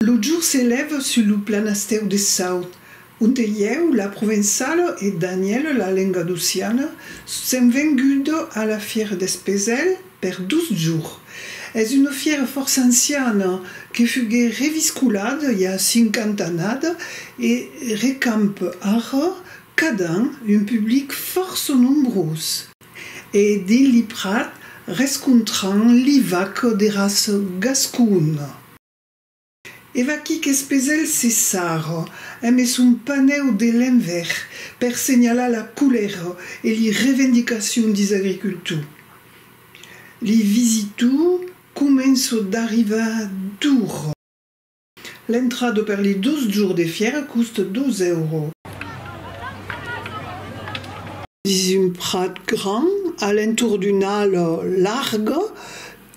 Lo jour se lève sus lo planastèu de Saut, onte ieu, la Provençala e Danièle, la Lengadociana, sèm vengudes a la fièra d'Espesèl per dos jours. Es una fièra fòrça anciana que fuguè reviscolada i a 50 annada e recampe ara cada an un public fòrça nombrós. E dins li prat rescontran li vac de ras gascon. E vaquí qu'es pesèl se sar eme son panèu de len ver per senhalar la colèra e li revendicacion dis agricultor. Li visitor començo d'arrivar d'or. L'entrada per li dus jours de fièra cost 12 èuro. Dins un prat grand, a l'entorn d'una ala larga,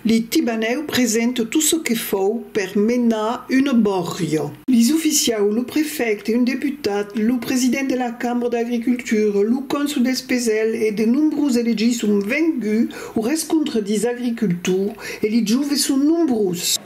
li tibanèu presenta tot çò que fòu per menar una bòrria. Li oficiaus, lo prefècte, un deputat, lo president de la cambra d'agricultura, lo cònsol dels Pesèls e de nombrós elegits son venguts au rescontre dils agricultors e li joves son nombrós.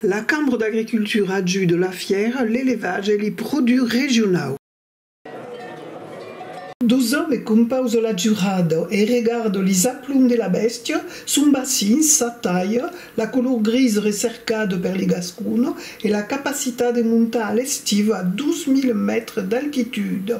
La Cambra d'Agricultura ajuda la fièra, l'elevatge e li produch regionau. Dusau e compauso la jurado, e regardo li zaplon de la bèstia, son bacin, sa talha, la color gris recercada per li gascono e la capacitat de montar a l'estiu a 12.000 mètres d'altitude.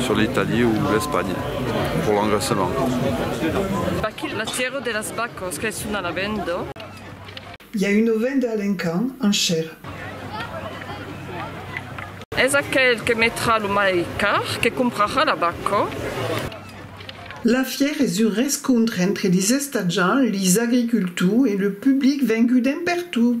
Sur l'Italie o l'Espanha, prolongassement. Baquil, Matièro de las bacos qu'es son a la venda. I a una venda a l'encant, enchèra. Es aquel que metrà lo mai car que comprarà la baco. La fièra es un rescontre entre les estatjants, les agricultors e le public vengut d'empertut.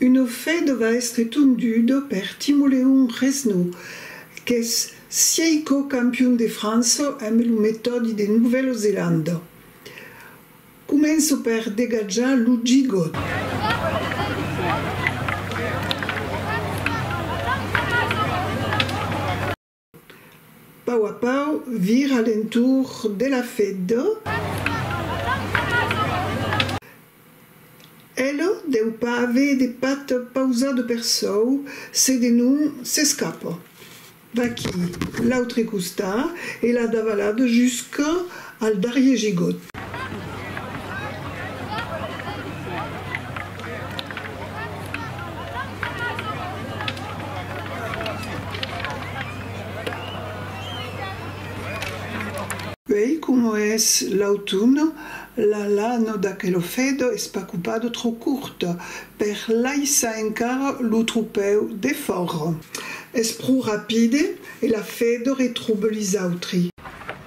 Uno fe dova èstre tondudo per Timoleon Resnau, qu'es sieico campion de França amb lo metòdi de Novèla Zelanda. Començo per degatjar lo gigot. Pau a pau, vir a l'entorn de la feddo, elo deu pas aver de pat pausado per sòu, se de non s'escapa. Vaquí l'autre costat e l'a davalado jusca Al darrier gigot. Uèi coma es l'autunn, la lana d'aquelo fèdo es pas copado trò corta per laissar encara lo tropèu defòra. Es pro rapide e la fèdo retrobe lis autri.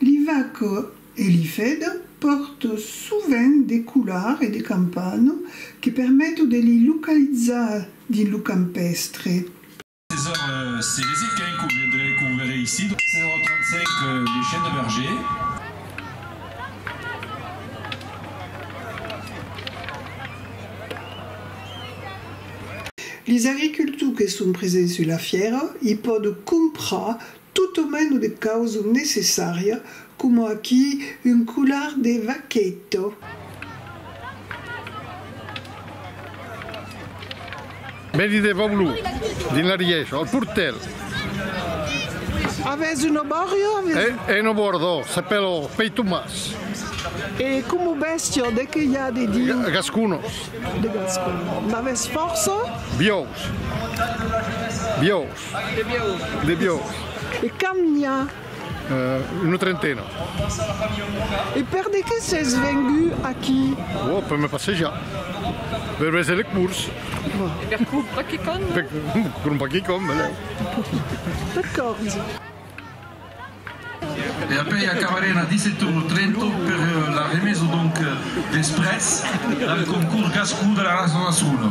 Li vaco e li fedo pòrto sovent de colar e de campano que permeto de li localizar dins lo campèstre. César Célezit qu'ai un courrier de lei Corvere Isidro, 035 Les Chiens de Berger. Lis agricultors que son presents sus la fièra i pòdo comprar Tot o meno de causa necessària, coma aquí un colar de vaqueta. Vèni de vòu lo dins la riècha, al portèr. Avètz un obòrio? Avètz. Un obòrdò, s'apèla o pei Tomàs. E coma bèstia, de qué i a de diu? De gasconos. De gasconos. N'avètz fòrça? Biòus. Biòus. De biaur. De biaur. E quand n'i a? Una trentena. E per de qué s'es vengu aquí? Oh, per me passejar. Per veser les cours. E per crompar quicòm. Per crompar quicòm, beleu. D'acòrds. E apèi acabarem a 17 ora 30 per la remesa donc desprès del concurs Gascon de la Rasa de Sona.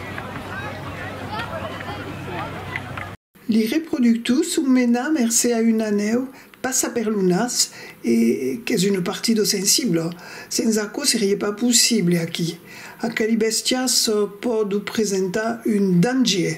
Li reproductors son menats mercé a una nèu passa per lo nas e qu'es una partida sensibla, sens aquò serie pas possible aquí. Aqueli bèstias pòdu presentar un dangier.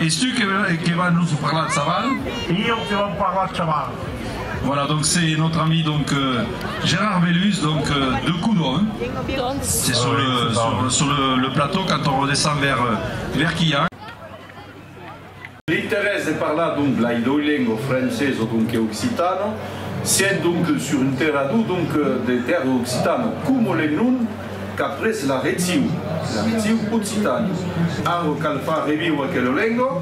Es tu que va nos parlar chaval? Ieu que vau parlar chaval. Voilà donc c'est notre ami donc Gérard Bellus donc de Coudon c'est sur le sur le le plateau quand on redescend vers vers Quillan. L'interès de parlar donc de la idoilengua o francés o donc e occitano, sent donc sur un terrador donc de terra occitano, como le nom Qu'après la retiu, la retiu occitani. Arro cal far reviure aquela lenga,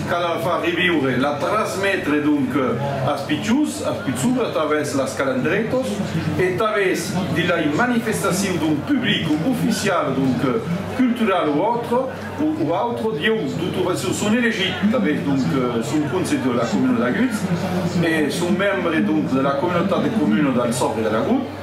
cal la far reviure, la trasmetre donc as pichus, as pichura tavès las calandretos e tavès de lai manifestaciu d'un public oficial donc cultural o autre, o autre, dieu totuva çò son elegit tavès donc son conse de la comuna d'Agut e son membre donc de la communautat de comuna del Sòbri de l'Agut.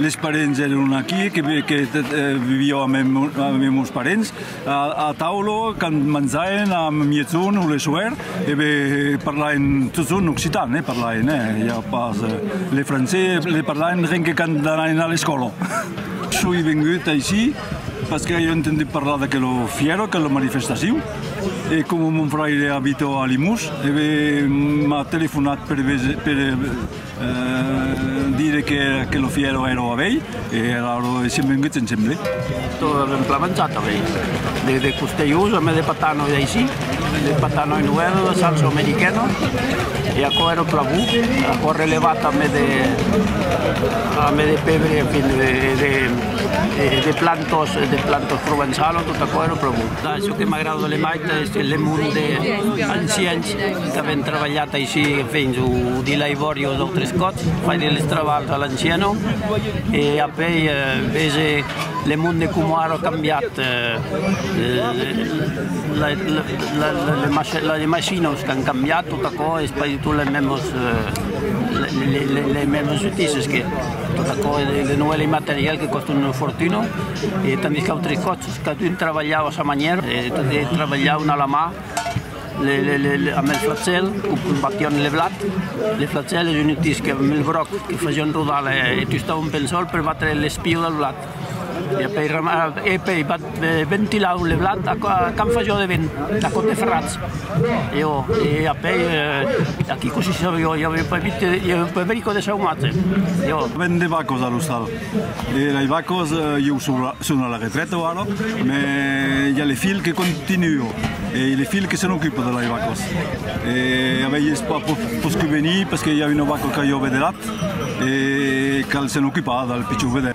Les parents èron aquí, que vivió a mes mos parents, a taula, quand manjauen a mietzon o le soèr, parlaven totun occitan, parlaven, ja pas le francés, le parlaven ren que quand anaven a l'escòla. Soi vengut aicí pas que ai entendut parlar d'aquela fièra, aquela manifestacion, e coma mon fraire abita a Limós, m'at telefonat per Dire que que lo fièro èra ua vei e era ora de sien vengut se'n sembli. Tot lo temps plamanjat avei de de costelhós a mès de patano e d'aisí, de patano e noèl, de salsa americana e aquò èra pla bon, aquò relevat a mès de a mès de pebre en fin de de de plantos de plantos provençalos tot aquò èra pla bon. Çò que m'agrada de Lemaita es que le monde anciens Qu'avèm trabalhat aicí fins au de Laibòri os autres còps, faire les travaux a l'anciano e après véser le monde coma ara a cambiat, les machinos qu'an cambiat tot aquò es pas du tout les mèmes les mèmes soutises que tot aquò es de noèl material que còstan una fortuna e tandis qu'autres còps cadun trabalhava a sa manièra e tot trabalhavan a la mà. Amb el flachèl o batián le blat. Le flachèl es un utilh que amb el broc que fasián rodar e tustavan un pensòl per batre l'espiu del blat e pei ventilavan le blat quand fasió de vent a còp de ferratz e apèi aquí cossí se sabió i aviá pas vist de saumatge. Vent de bacos a l'ostal. E lei vacos ieu son a la retraite ara me i a le filh que continua e le filh que se n'ocupa de lei vacos e a vei es pas pus que venir pesque i a una vaca que jo ve de lat e cal se n'ocupar del pichon vedè.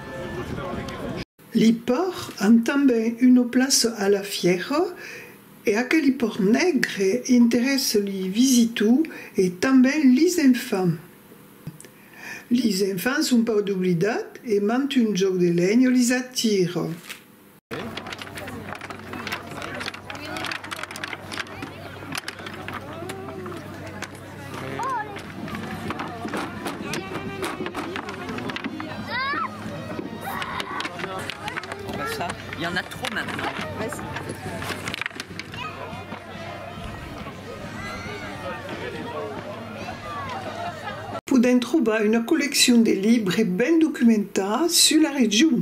Li pòrt an tanben una plaça a la fièra e aqueli pòrt negre interèssa li visitu e tanben lis enfants. Lis enfants son pas doblidat e mantun jòc de lenha lis atira. Podèm trobar una colleccion de libres ben documentats sus la region.